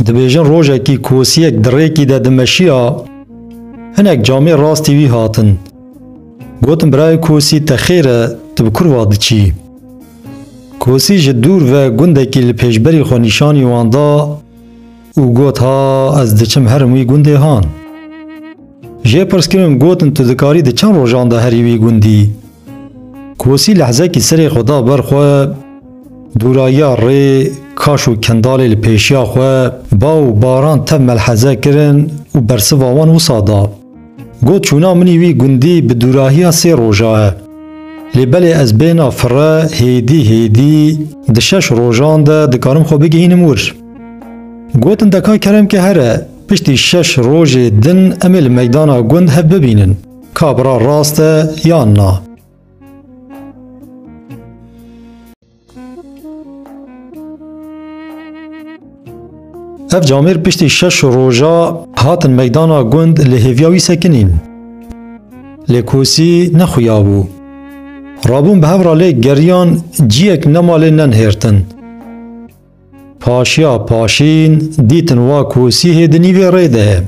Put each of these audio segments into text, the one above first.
Dibêjin rojekî kosiyek di rêkî de dimeşiya, hinek camê rastî wî hatin. Gotin birayê kosî te xêr e tu bi kurva diçî. Kosî ji dûr ve gundekî li pêşberî xwe nîşanî wan da, Û got, Ha, ez diçim herim wî gundê han. Jê pirs kirin, gotin, Tu dikarî di çend rojan de herî wî gundî? Kosî lehzekî serê xwe da ber xwe, dûrayiya rê, kaş û kendalê li pêşiya xwe, ba û baran tev melheze kirin û bersiva wan wisa da. Got çûna minî wî gundî bi dûrahiya sê roja e. Lê belê ez bêna fire hêdî hêdî di şeş rojan de dikarim xwe bigihînim wir. Gotin deka kerem ke here piştî şeş rojê din em ê li meydana gund hev bibînin ka bira rast e yan na. Ev camêr piştî şeş roja hatin meydana gund li hêviya wî sekinîn. Lê kosî nexuya bû. Rabûn bi hev ra lê geriyan ciyek nema lê nenihêrtin. Paşiya paşîn dîtin wa kosî hê di nîvê rê de ye.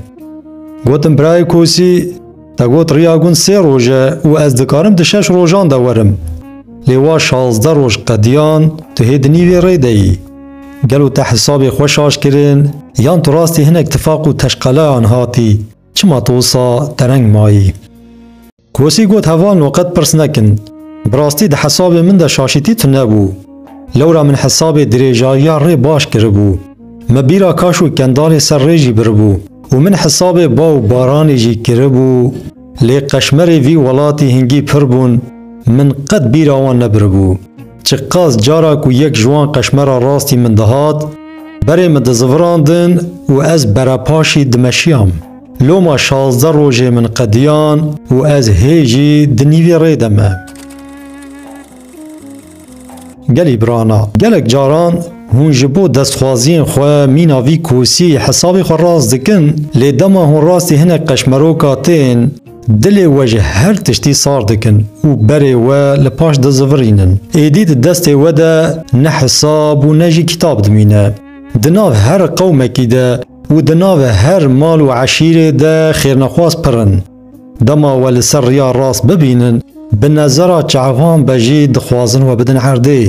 Gotin birayê kosî, te got riya gund sê roj e û ez dikarim di şeş rojan de werim. Lê wa şazdeh roj qediyan tu hê di nîvê rê de yî. Gelo te hisabê xwe şaş kirin yan tu rastî hinek tifaq û teşqeleyan hatî, çima tu wisa tereng mayî? Kosî got heval no qet pirs nekin. Bi rastî di hesabê min de şaşîtî tune bû. Lewra min hesabê dirêjayiya rê baş kiribû. Me bîra kaş û kendalê ser rê jî biribû û min hesabê ba û baranê jî kiribû. Lê qeşmerê vî welatî hingî pir bûn, min qet bîra wan nebiribû. Çiqas cara ku yek ji wan qeşmera rastî min dihat, berê min dizivirandin û ez berepaşî dimeşiyam. Loma şazdeh rojê min qediyan û ez hê jî di nîvê rê de me. Gelî birana, gelek caran hûn ji bo destxwaziyên xwe mîna vî kosî hesabê xwe rast dikin, lê dema hûn rastî hinek qeşmeroka tên, dilê we ji her tiştî sar dikin û berê we li paş dizivirînin. Êdî di destê we de ne hesab û ne jî kîtab dimîne. Di nav her qewmekî de û di navê her mal û eşîrê de xêrnexwaz pir in. Dema we li ser riya rast bibînin, bi nezera çavan be jî dixwazin we bidin erdê.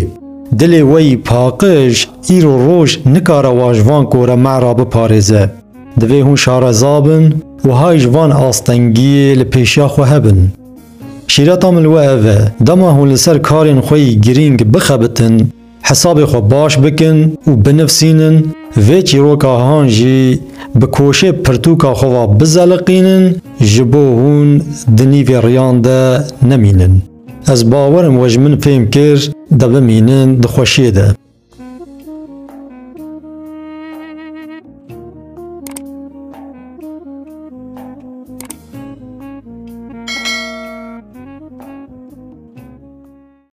Dilê we yî paqij, îro roj nikare wa ji van kore me re biparêze. Divê hûn şareza bin û hay ji van astengiyê li pêşiya xwe hebin. Şîreta min li we ev e, dema hûn li ser karên xwe yî girîng bixebitin, hesabê xwe baş bikin û binivsînin, vê çîroka han jî bi koşê pirtûka xwe ve bizeliqînin ji bo hûn di nîvê riyan de nemînin. Ez bawer im we ji min fêm kir de bimînin di xweşiyê de.